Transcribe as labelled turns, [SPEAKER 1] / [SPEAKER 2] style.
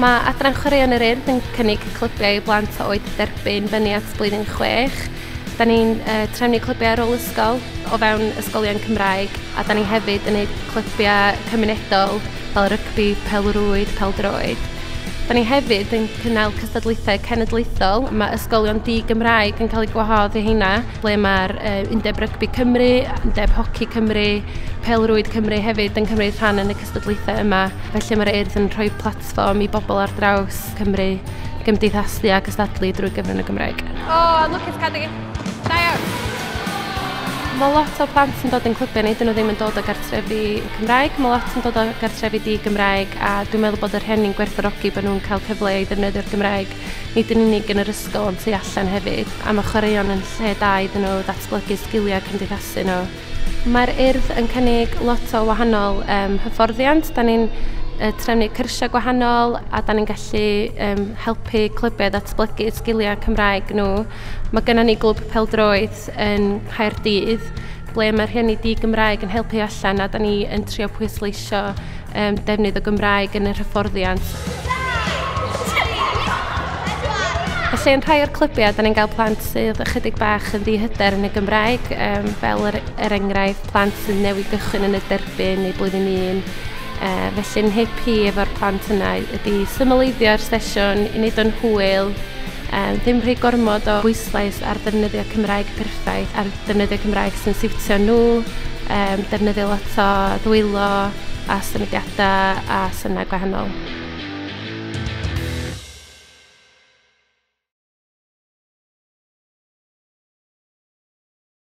[SPEAKER 1] Mae Adran Chwaraeon yr Urdd yn cynnig clybiau i blant o oed derbyn fyny at blwyddyn chwech. Da ni'n uh, trefnu clybiau ar ôl ysgol o fewn ysgolion Cymraeg a da ni hefyd yn gwneud clybiau cymunedol fel rygbi, pelrwyd, peldroed. Da ni hefyd yn cynnal cystadlaethau cenedlaethol. Mae ysgolion di-Gymraeg yn cael eu gwahodd i heina. ble mae'r uh, Undeb Rygbi Cymru, Undeb Hoci Cymru, Pelrwyd Cymru hefyd yn cymryd rhan yn y cystadlaethau yma. Felly mae'r urdd yn rhoi platfform i bobl ar draws Cymru gymdeithasu a gystadlu drwy gyfrwng y Gymraeg. O, oh, lwcus cadw. Da iawn. Mae lot o plant yn dod yn clybiau ni, dyn nhw ddim yn dod o gartrefi Cymraeg, mae lot yn dod o gartrefi di Gymraeg a dwi'n meddwl bod yr hen ni'n gwerthorogi bod nhw'n cael cyfle i ddefnyddio'r Gymraeg, nid yn unig yn yr ysgol ond tu allan hefyd, a mae chwaraeon yn lle da iddyn nhw ddatblygu sgiliau cymdeithasu nhw. Mae'r Urdd yn cynnig lot o wahanol um, hyfforddiant. Da ni'n uh, trefnu cyrsiau gwahanol a da ni'n gallu um, helpu clybiau ddatblygu sgiliau Cymraeg nhw. Mae gennym ni glwb peldroed yn Caerdydd ble mae rhieni di-Gymraeg yn helpu allan a da ni yn trio pwysleisio um, defnydd o Gymraeg yn yr hyfforddiant. Felly yn rhai o'r clybiau, da ni'n cael plant sydd ychydig bach yn ddihyder yn y Gymraeg, um, fel yr, er, er enghraifft plant sydd newid gychwyn yn y derbyn neu blwyddyn un. Uh, felly'n hip hi efo'r plant yna ydy symleiddio'r sesiwn i wneud o'n hwyl, um, ddim rhy gormod o bwyslais ar ddefnyddio Cymraeg perffaith a'r defnyddio Cymraeg sy'n siwtio nhw, um, defnyddio lot o ddwylo a symudiadau a synnau gwahanol.